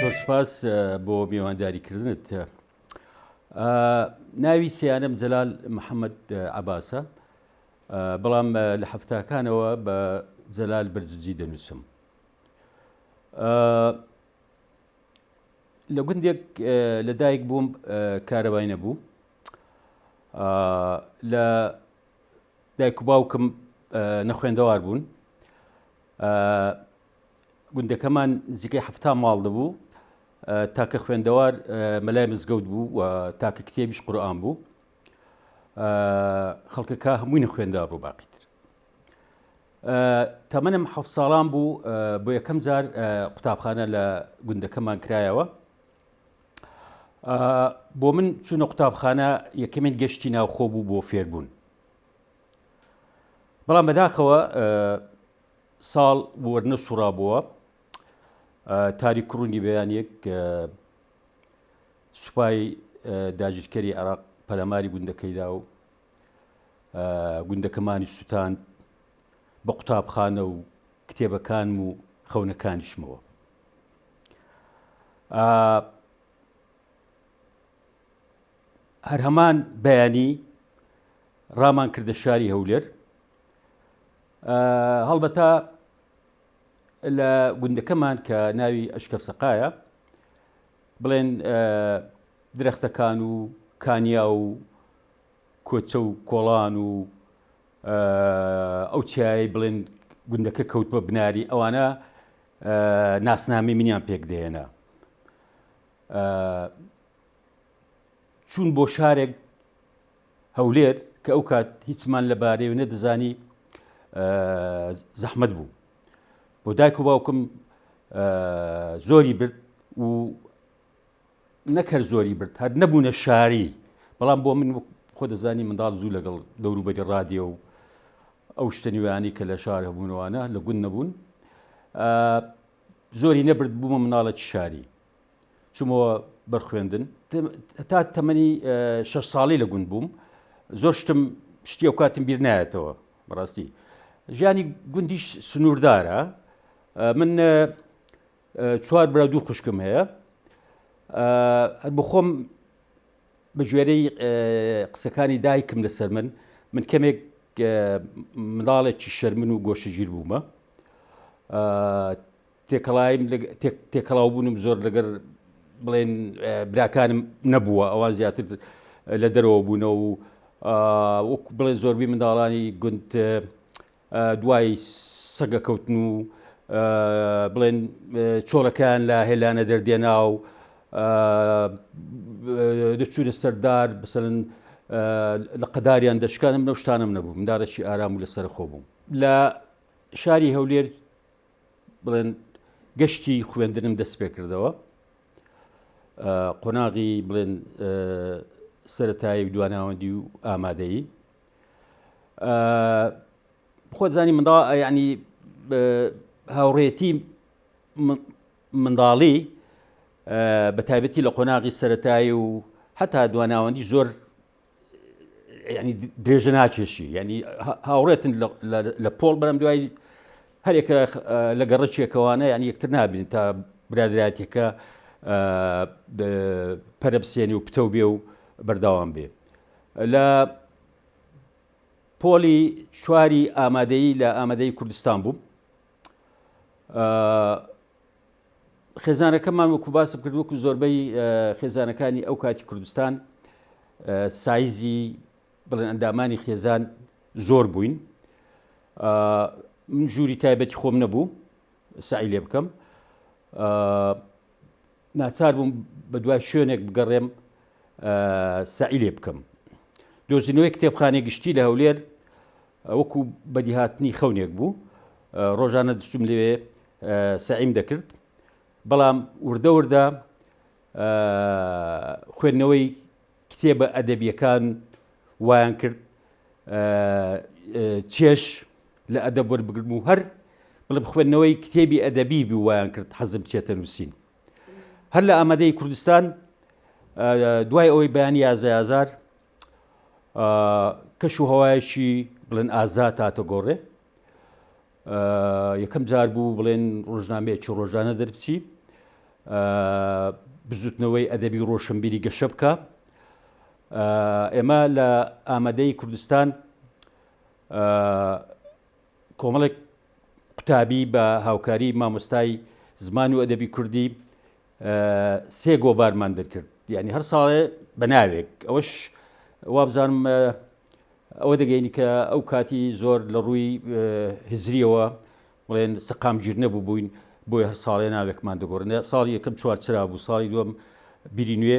زۆر سپاس بۆ میوانداری کردنت ناوی سیانم جەلال محەممەد عباسە بەڵام لە هەفتاکانەوە بە جەلال برزجی دەنووسم لە گوندێک لە دایک بووم کارەبای نەبوو لە دایک و باوکم نەخوێندەوار بوون گوندەکەمان نزیکەی هەفتا ماڵ دەبوو تاکە خوێندەوار مەلای مزگەوت بوو و تاکە کتێبیش قورآان بوو خەڵکەکە هەمووی نەخوێندا بۆ باقیتر تەمەنم حەف ساڵان بوو بۆ یەکەم جار قوتابخانە لە گوندەکەمان کرایەوە بۆ من چوونە قوتابخانە یەکەمین گەشتی ناوخۆ بوو بۆ فێربوون بەڵام بەداخەوە ساڵ وەرنە سوڕا بووە تاری کوڕونی بەیانێک سوپای داگیرکەری عراق پەلەماری گوندەکەیدا و گوندەکەمانی سووتاند بە قوتابخانە و کتێبەکان و خەونەکانیشمەوە هەر هەمان بەیانی ڕامان کردە شاری هەولێر هەڵبەتا لە گوندەکەمان کە ناوی ئەشکەف سەقایە بڵێن درەختەکان و کانیا و کۆچە و کۆڵان و ئەو چیایی بڵێن گوندەکە کەوت بە بناری ئەوانە ناسنامەی منیان پێک دێنا. چوون بۆ شارێک هەولێر کە ئەو کات هیچمان لە بارەی و نەدەزانی زەحمد بوو بۆ دایک و باوکم زۆری برد و نەک هەر زۆری برد هەر نەبوونە شاری بەڵام بۆ من خۆ دەزانی منداڵ زوو لەگەڵ دەوروبەری ڕادێ و ئەو شتە نوێیانی کە لە شار هەبوونەوانە لە گوند نەبوون زۆری نەبرد بوومە مناڵێکی شاری چوومەوە بەرخوێندن تا تەمەنی شە ساڵی لە گوند بووم زۆر شتم شتی و کاتم بیر نایەتەوە بەڕاستی ژیانی گوندیش سنووردارە من چوار برا دوو خوشکم هەیە بخۆم بە گوێرەی قسەکانی دایکم لەسەر من من کەمێک منداڵێکی شەرمن و گۆشەگیر بوومە تێکەڵایم تێکەڵاو بوونم زۆر لەگەر بڵێن براکانم نەبووە ئەوە زیاتر لە دەرەوە بوونە و وەک بڵێ زۆربی منداڵانی گوند دوای سەگە کەوتن و بڵێن چۆڵەکان لە هێلانە دەردێنا و دەچوونە سەردار بسەرن لە قەداریان دەشکانم لەو شتانم نەبوو مندارەشی ئارام و لەسەر خۆ بووم لە شاری هەولێر بڵێن گەشتی خوێندنم دەست پێ کردەوە قۆناغی بڵێن سەتایی و دواناوەندی و ئامادەیی خۆت زانی مندا ینی هاوڕێتی منداڵی بە تایبەتی لە قۆناغی سەتایی و هەتا دواناوەندی زۆر ینی درێژە ناکێشی ینی هاوڕێتن لە پۆڵ بەرم دوای هەرێکە لە گەڕەکێکەوانە یان یەکتر نابین تا برادراتێکە پەرەبسێنی و پتەو بێ و بەرداوام بێ لە پۆلی چواری ئامادەیی لە ئامادەیی کوردستان بووم خێزانەکەمان وەکو باسم کرد وەکو زۆربەی خێزانەکانی ئەو کاتی کوردستان سایزی بڵێن ئەندامانی خێزان زۆر بووین من ژووری تایبەتی خۆم نەبوو سعی لێ بکەم ناچار بووم بە دوای شوێنێک بگەڕێم سەعی لێ بکەم دۆزینەوەی کتێبخانەی گشتی لە هەولێر وەکو بەدیهاتنی خەونێک بوو ڕۆژانە دچوم لەوێ سەعیم دەکرد بەڵام وردە وردە خوێندنەوەی کتێبە ئەدەبییەکان وایان کرد چێژ لە ئەدەب وەربگرم و هەر بڵێم خوێندنەوەی کتێبی ئەدەبی بوو وایان کرد حەزم چێتە نووسین هەر لە ئامادەی کوردستان دوای ئەوەی بەیانی یازەیازار کەش و هەوایەکی بڵێن ئازا تاتە گۆڕێ یەکەم جار بوو بڵێن ڕۆژنامەیەکی ڕۆژانە دەربچی بزوتنەوەی ئەدەبی ڕۆشنبیری گەشە بکە ئێمە لە ئامادەی کوردستان کۆمەڵێک قوتابی بە هاوکاری مامۆستای زمان و ئەدەبی کوردی سێ گۆڤارمان دەرکرد یعنی هەر ساڵێ بە ناوێک ئەوەش وابزانم ئەوە دەگەینی کە ئەو کاتی زۆر لە ڕووی هزریەوە بڵێن سەقامگیر نەبوو بووین بۆی هەر ساڵێ ناوێکمان دەگۆڕنێ ساڵی یەکەم چوارچرا بوو ساڵی دوم بیری نوێ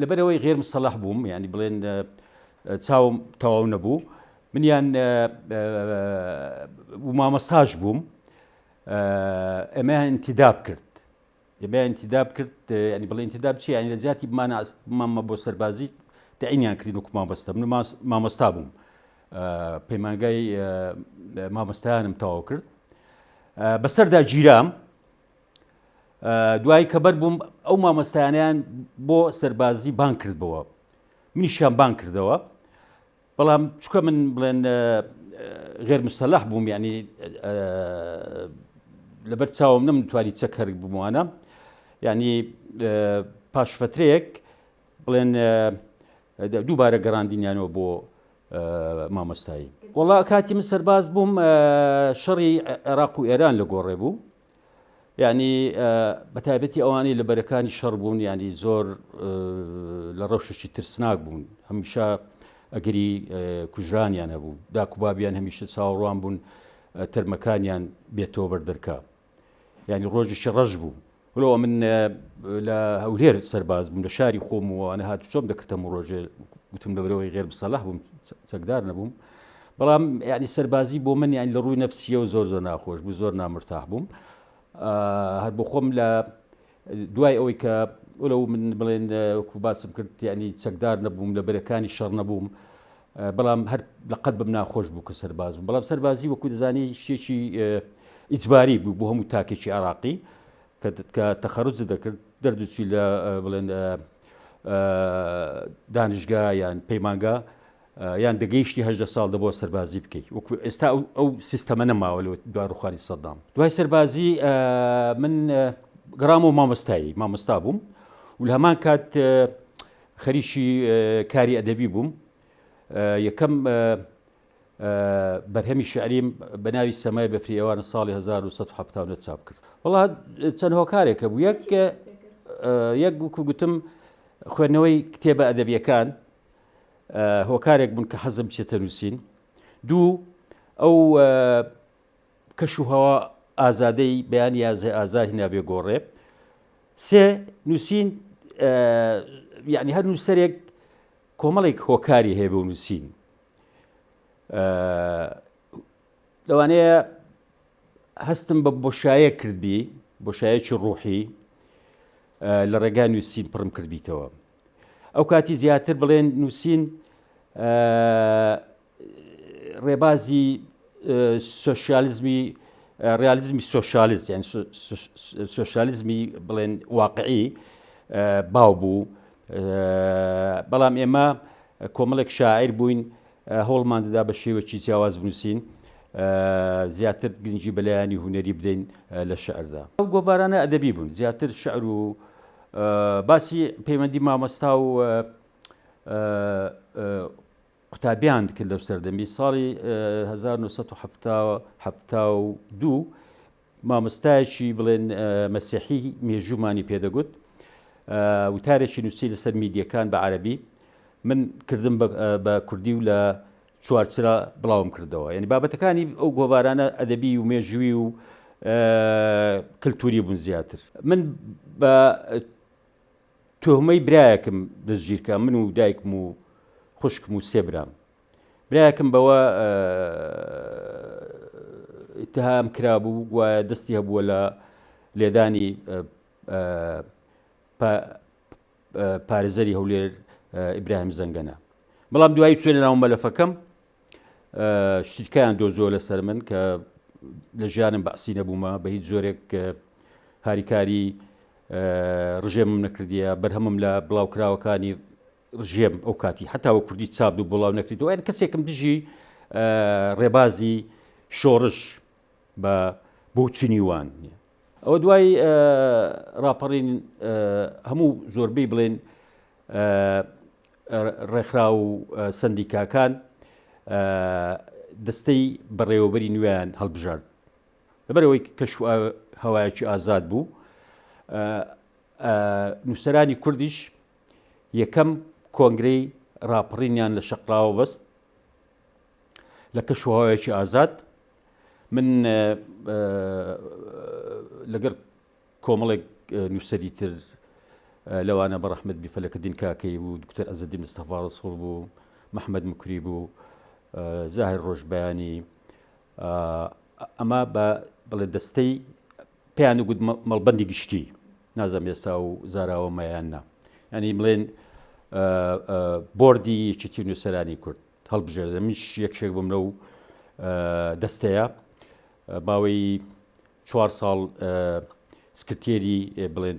لەبەرئەوەی غێر مستەڵەح بووم یانی بڵێن چاوم تەواو نەبوو منیان مامەساش بووم ئەمە انتداب کرد ئەمە انتداب کرد ینی بڵێ انتداب چی ینی لە جیاتی مامە بۆ سەربازی تعینیان کردین و مامەستە من مامەستا بووم پەیمانگای مامەستایانم تەواو کرد بەسەردا گیرام دوایی کە بەر بووم ئەو مامۆستایانیان بۆ سەربازی بان کردبەوە منیشیان بان کردەوە بەڵام چکە من بڵێن غێر مسەلح بووم ینی لەبەر چاوم نم توانی چەکەر بمانە ینی پاشفترەیەک بڵێن دووبارە گەڕاندینیانەوە بۆ مامۆستایی. وەڵا کاتی من سەرباز بووم شەڕی عێراق و ئێران لە گۆڕێ بوو یعنی بەتابەتی ئەوانەی لە بەرەکانی شەڕ بوون ینی زۆر لە ڕەوشێکی ترسناک بوون هەمیشە ئەگەری کوژرانیان هەبوو داکوبابیان هەمیشە چاوەڕوان بوون تەرمەکانیان بێتەوە بەردەرکە یعنی ڕۆژیشی ڕەش بوو ولەوە من لە هەولێر سەرباز بووم لە شاری خۆم وانە هات چۆم دەکردم و ڕۆژێ گوتم لەبرەوەی غێر بسەلح بووم چەکدار نەبووم بەڵام یعنی سەربازی بۆ من یان لە ڕووی نەفسیە و زۆر زۆر ناخۆش بوو زۆر نامرتاح بووم هەر بۆ خۆم لە دوای ئەوەی کە ئەو من بڵێن کوباسم کرد یعنی چەکدار نەبووم لە بەرەکانی شەڕ نەبووم بەڵام هەر لە قەلبم ناخۆش بوو کە سەرباز بووم، بەڵام سەربازی وەکو دەزانی شتێکی ئیجباری بوو بۆ هەموو تاکێکی عێراقی کە تەخەرروج دەکرد دەردوچی لە بڵێن دانیشگا یان پەیمانگا یان دەگەیشتی هەدە ساڵ دەبەوە سەربازی بکەیت وەکو ئێستا ئەو سیستەمە نەماوە لە دواروخانی سەدام دوای سەربازی من گرام و مامۆستایی مامۆستا بووم و هەمان کات خەریکی کاری ئەدەبی بووم، یەکەم بەرهەمی شعریم بە ناوی سەمای بەفری ئێوارە ساڵی 1970 چاپ کرد. وڵا چەند هۆکارێکە بوو یەک یەک گوکو گوتم خوێندنەوەی کتێبە ئەدەبیەکان هۆکارێک بوون کە حەزم چێتە نووسین دوو ئەو کەش و هەوا ئازادەی بەیانی ئازای ئازار هینا بێ گۆڕێ سێ نووسین یعنی هەر نووسەرێک کۆمەڵێک هۆکاری هەیە بۆ نووسین لەوانەیە هەستم بە بۆشایە کردبی بۆشایەکی ڕوحی لە ڕێگای نووسین پڕم کردبییتەوە ئەو کاتی زیاتر بڵێن نووسین ڕێبازی سۆسیالیزمی ڕالیزمی سۆسیالیز یان سۆسیالیزمی بڵێن واقعی باو بوو بەڵام ئێمە کۆمەڵێک شاعیر بووین هەوڵمان دەدا بە شێوەکی جیاواز بنووسین زیاتر گرنگی بەلایانی هوەری بدەین لە شعردا ئەو گۆڤارانە ئەدەبی بوون زیاتر شعر و باسی پەیوەندی مامۆستا و قوتابیان دکرد لەو سەردەمی ساڵی هەزار و نۆ سەد و حەفتا و حەفتا و دوو مامۆستایەکی بڵێن ئە، مەسیحی مێژوومانی پێدەگوت ئە، وتارێکی نووسی لەسەر میدیەکان بە عەرەبی من کردم بە ئە، بە کوردی و لە چوارچرا بڵاوم کردەوە یانی بابەتەکانی ئەو گۆڤارانە ئەدەبی و مێژووی و ئە، کلتووری بوون زیاتر من بە ئە، تۆمەی برایەکم دەستگیرکرا من و دایکم و خوشکم و سێ برام برایەکم بەوە اتهام کرابوو گوایە دەستی هەبووە لە لێدانی پارێزەری هەولێر ئیبراهیم زەنگەنە بەڵام دوایی چێنە ناو مەلەفەکەم شتکیان دۆزۆ لەسەر من کە لە ژیانم بەعسی نەبوومە بە هیچ زۆرێک هاریکاری ڕژێمم نەکردیە بەرهەمم لە بڵاوکراوەکانی ڕژێم ئەو کاتی هەتاوە کوردی چاپ و بڵاو نەکردەوە یان کەسێکم دژی ڕێبازی شۆڕش بە بۆ چنی وان نیە ئەوە دوای ڕاپەڕین هەموو زۆربەی بڵێن ڕێکخرا و سندیکاکان دەستەی بەڕێوەبەری نوێیان هەڵبژارد لەبەرەوەی کەش هەوایەکی ئازاد بوو نووسرانی کوردیش یەکەم کۆنگرەی ڕاپڕینیان لە شەقراوە بەست لە کەش و هەوایەکی ئازاد من لەگەر کۆمەڵێک نووسەری تر لەوانە بە ڕەحمد بیفەلەکە دین کاکەی بوو دکتەر ئەزدی مستەفاڕس هەڵ بوو محەممەد مکری بوو زاهر ڕۆژبیانی ئەمە بە بڵێ دەستەی پێیان گوت مەڵبەندی گشتی نازم ئێستا و زاراوە مەیان نا ینی بڵێن بردی یەکێتی نووسەرانی کورد هەڵبژێردە منش یەکشێک بم لەو دەستەیە باوەی چوار ساڵ سکرتێری بڵێن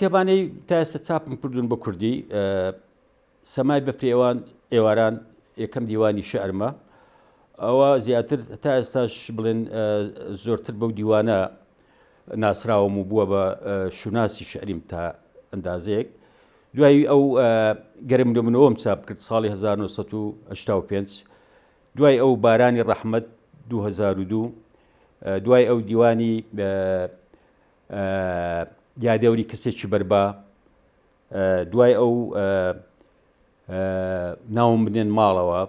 کتێبانەی تا ئێستا چاپم کردوون بە کوردی سەمای بەفرێوان ئێواران یەکەم دیوانی شەرمە ئەوە زیاتر تا ئێستاش بڵێن زۆرتر بەو دیوانە ناسراوم و بووە بە شوناسی شعریم تا ئەندازەیەک. دوای ئەو گەرم لە منەوەم چاپ کرد ساڵی 1985 دوای ئەو بارانی ڕەحمەت 2002 دوای ئەو دیوانی یادەوری کەسێکی بەربا دوای ئەو ناوم بنێن ماڵەوە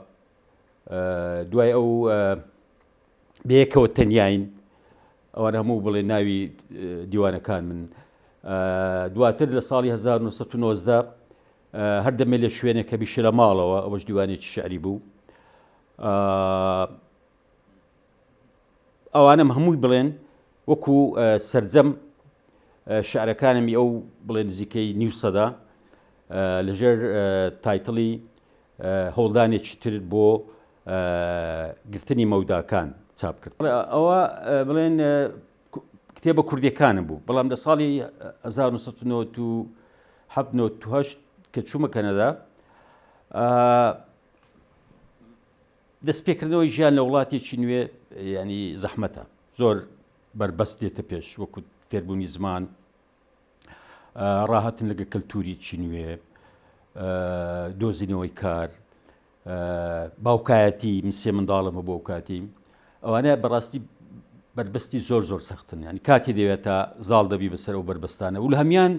دوای ئەو بەیەکەوە تەنیاین ئەوان هەموو بڵێ ناوی دیوانەکان من دواتر لە ساڵی 1990 هەر دەمێ لە شوێنە کە بیشە لە ماڵەوە ئەوەش دیوانێکی شعری بوو ئەوانم هەمووی بڵێن وەکو سرجەم شعرەکانمی ئەو بڵێ نزیکەی نیو سەدا لەژێر تایتڵی هەوڵدانێکی تر بۆ گرتنی مەوداکان چاپ کرد. ئەوا بڵێن کتێبە کوردیەکانم بوو، بەڵام لە ساڵی هەزار و نۆ سەد و نەوەد و حەفت نەوەد و هەشت کە چوومە کەنەدا، دەست پێکردنەوەی ژیان لە وڵاتێکی نوێ یانی زەحمەتە، زۆر بەربەست دێتە پێش وەکو فێربوونی زمان، ڕاهاتن لەگە کەلتوریی نوێ دۆزینەوەی کار باوکایەتی مسیێ منداڵم بۆ کاتی ئەوانە بەڕاستی بربەستی زۆر زۆر سەختن ینی کاتی دەوێت تا زاڵ دەبی بەسەر و بربەستانە و لە هەمان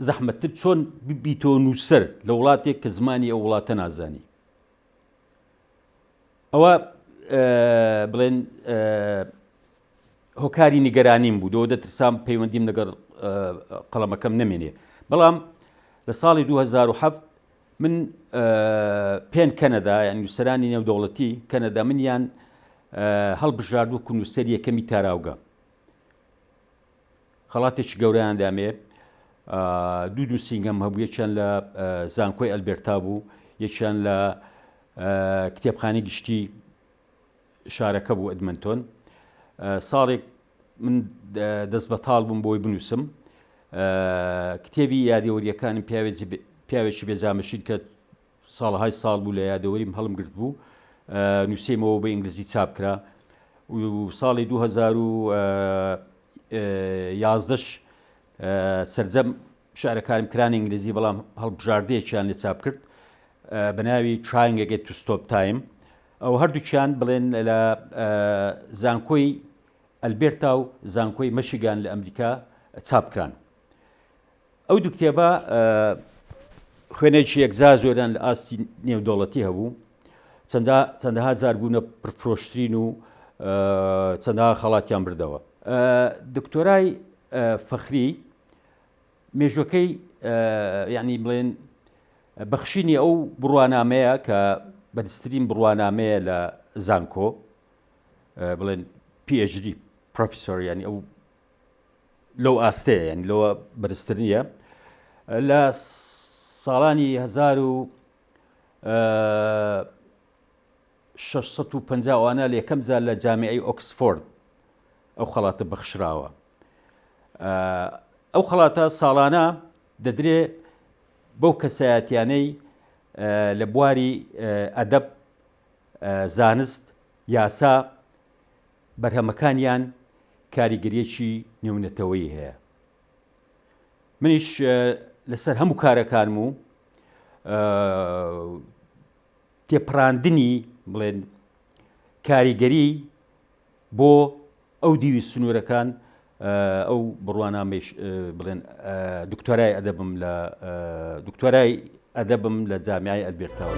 زەحمەتتر چۆن ببیتۆ نووسەر لە وڵاتێک کە زمانی ئەو وڵاتە نازانی ئەوە بڵێن هۆکاری نیگەرانیم بوو لەوە دەترسام پەیوەندیم لەگەڵ قەڵەمەکەم نەمێنێ بەڵام لە ساڵی 2007 من پێن کەنەدا یان نووسرانی نێودەوڵەتی کەنەدا منیان هەڵبژارد و کونووسەر یەکەمی تاراوگە خەڵاتێکی گەوریان دامێ دوو دوو سینگەم هەبوو یەکیان لە زانکۆی ئەلبێرتا بوو یەکیان لە کتێبخانی گشتی شارەکە بوو ئەدمنتۆن. ساڵێک من دەست بەتاڵ بووم بۆی بنووسم کتێبی یادەوەریەکانم پیاوێکی بێزانمەشید کە ساڵهای ساڵ بوو لە یادەوەریم هەڵم گرت بوو نووسمەوە بە ئینگلیزی چاپ کرا ساڵی 2011ش سرجەم شیعرەکانم کرانە ئینگلیزی بەڵام هەڵبژاردەیەکیان لێ چاپ کرد بە ناوی Trying Again to Stop Time ئەو هەردووکیان بڵێن لە زانکۆی ئەلبێرتا و زانکۆی مەشیگان لە ئەمریکا چاپ کران ئەو دوو کتێبە خوێنێکی یەکجا زۆریان لە ئاستی نێودەوڵەتی هەبوو چەندەها زار بوونە پرفرۆشترین و چەندها خەڵاتیان بردەوە دکتۆرای فەخری مێژوەکەی یعنی بڵێن بەخشینی ئەو بڕوانامەیە کە بەرزترین بڕوانامەیە لە زانکۆ بڵێن PHD پرۆفیسۆر ینی ئەو لەو ئاستەیە یعنی لەوە بەرزتر نییە لە ساڵانی هزار و شەش سەد و پەنجا وانە لەیەکەم جار لە جامیعەی ئۆکسفۆرد ئەو خەڵاتە بەخشراوە ئەو خەڵاتە ساڵانە دەدرێ بەو کەسایەتیانەی لە بواری ئەدەب زانست یاسا بەرهەمەکانیان کاریگەریەکی نێونەتەوەی هەیە منیش لەسەر هەموو کارەکانم و تێپەڕاندنی بڵێن کاریگەری بۆ ئەو دیوی سنوورەکان ئەو بڕوانامەش بڵێن دکتۆرای ئەدەبم لە دکتۆرای ئەدەبم لە جامیای ئەلبێرتاوە.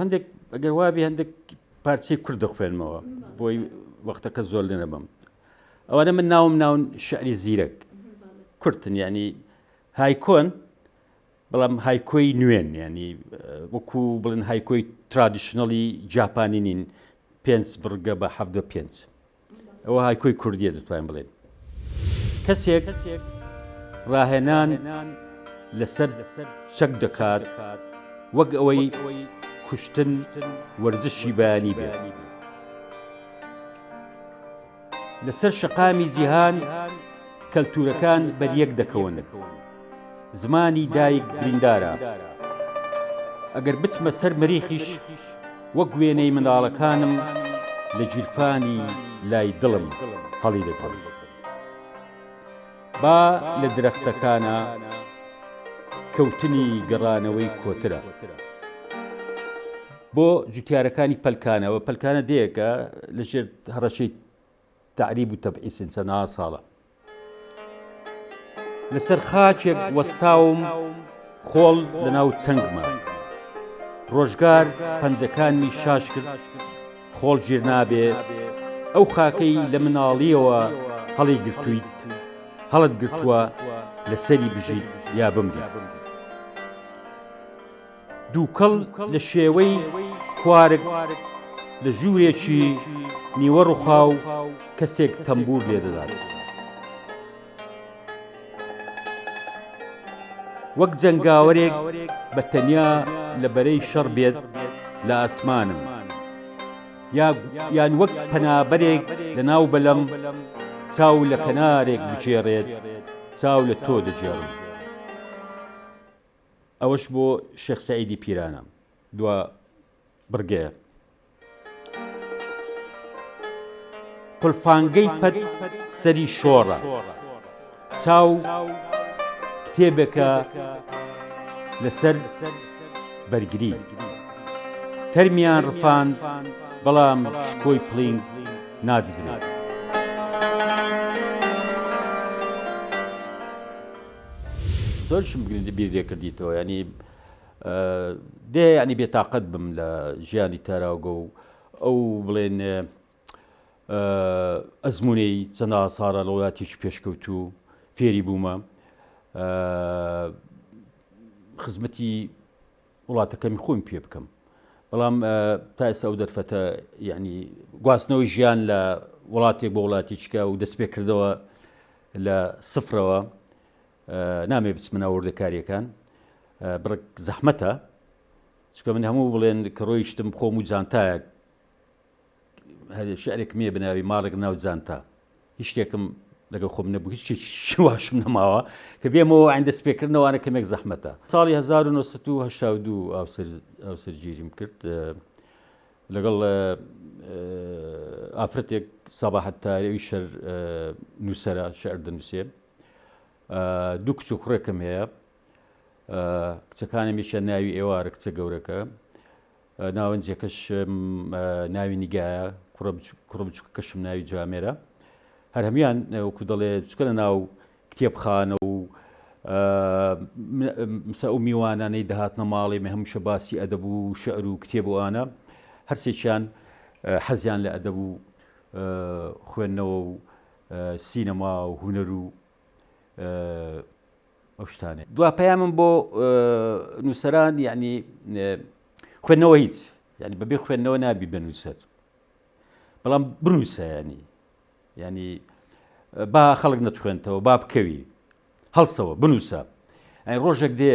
هەندێک ئەگەر وابی هەندێک پارچی کورد دەخوێنمەوە بۆی وەختەکە زۆر لێ نەبم ئەوانە من ناوم ناون شعری زیرەک کورتن ینی هایکۆن بەڵام هایکۆی نوێن ینی وەکو بڵن هایکۆی ترادیشنەڵی جاپانی نین پێنج بڕگە بە ه پێنج ئەوە هایکۆی کوردییە دەتوانین بڵێین کەسێک ڕاهێنان لەسەر چەک دەکات وەک ئەوەی کوشتن وەرزشی بەیانی بێت لەسەر شەقامی جیهان کەلتورەکان بەریەک دەکەون زمانی دایک بریندارە. ئەگەر بچمە سەر مەریخیش وەک وێنەی منداڵەکانم لە گیرفانی لای دڵم هەڵیدەگرم. با لە درەختەکانا کەوتنی گەڕانەوەی کۆترە. بۆ جوتیارەکانی پەلکانەوە، پەلکانە دێیەکە لەژێر هەڕەشەی تەعریب و تەبعیس سن چەناا ساڵە لەسەر خاکێک وەستاوم خۆڵ لەناو چەنگما ڕۆژگار پەنجەکانمی شاش کرد خۆڵ ژیر نابێ ئەو خاکەی لە مناڵیەوە هەڵی گرتویت هەڵت گرتووە لەسەری بژیت یا بمریت. دووکەڵ لە شێوەی کوارگ لە ژوورێکی نیوە ڕوخاو کەسێک تەمبور لێدەدات. وەک جەنگاوەرێک بە تەنیا لە بەرەی شەڕ بێت لە ئاسمانم یان وەک پەنابەرێک لە ناو بەلەم چاو لە کەنارێک بگێڕێت چاو لە تۆ دەگێڕم. ئەوەش بۆ شێخ سەعیدی پیرانە دوا بڕگەیە. قولفانگەی پەت سەری شۆڕە چاو کتێبێکە لەسەر بەرگری تەرمیان ڕفان بەڵام شکۆی پلینگ نادزرێت. زۆرشم بیر لێ کردیتەوە یانی دێ یانی بێ تااقەت بم لە ژیانی تاراوگە و ئەو بڵێن ئەزمونەی چەنا ساڕە لە وڵاتیش پێشکەوت و فێری بوومە خزمەتی وڵاتەکەمی خۆمی پێ بکەم بەڵام تا ئێستا ئەو دەرفەتە یعنی گواستنەوەی ژیان لە وڵاتێک بۆ وڵاتیچکە و دەست پێ کردەوە لە سفرەوە نامێ بچمناوردەکاریەکان بڕک زەحمەتە چکە من هەموو بڵێن کە ڕۆیشتم خۆم و جانتایەک هەرێ شعرێکم هەیە بە ناوی ماڵێک ناو جانتا هیچ شتێکم لەگەڵ خۆم نەبوو هیچ شواشم نەماوە کە بێمەوە ئەندە سپێکردنەوەوانە کەمێک زەحمەتە ساڵی 1970 ئاوسەرگیریم کرد لەگەڵ ئافرەتێک سەباحەت تارەوی شەر نووسرە شعر دەنووسێ دوو کچ و خوڕێکم هەیە کچەکانم میشە ناوی ئێوارە کچە گەورەکە ناوەنجەکەشم ناوی نیگایە کوڕە بچووکەکەشم ناوی جوامێرە هەر هەموان وەکو دەڵێ چکە لە ناو کتێبخانە و مسە ئەو میوانانەی دەهاتنە ماڵێ مە هەمووشە باسی ئەدەب و شعر و کتێب وانە هەرسێکیان حەزیان لە ئەدەب و خوێندنەوە و سینەما و هوەر و ئەو شتانێ دوا پەیامم بۆ نووسەران یعنی خوێندنەوە هیچ ینی بەبێ خوێندنەوە نابی بنووسەر بەڵام بنووسەیانی ینی با خەڵک نەتخوێنتەوە با بکەوی هەڵسەوە بنووسە ڕۆژێک دێ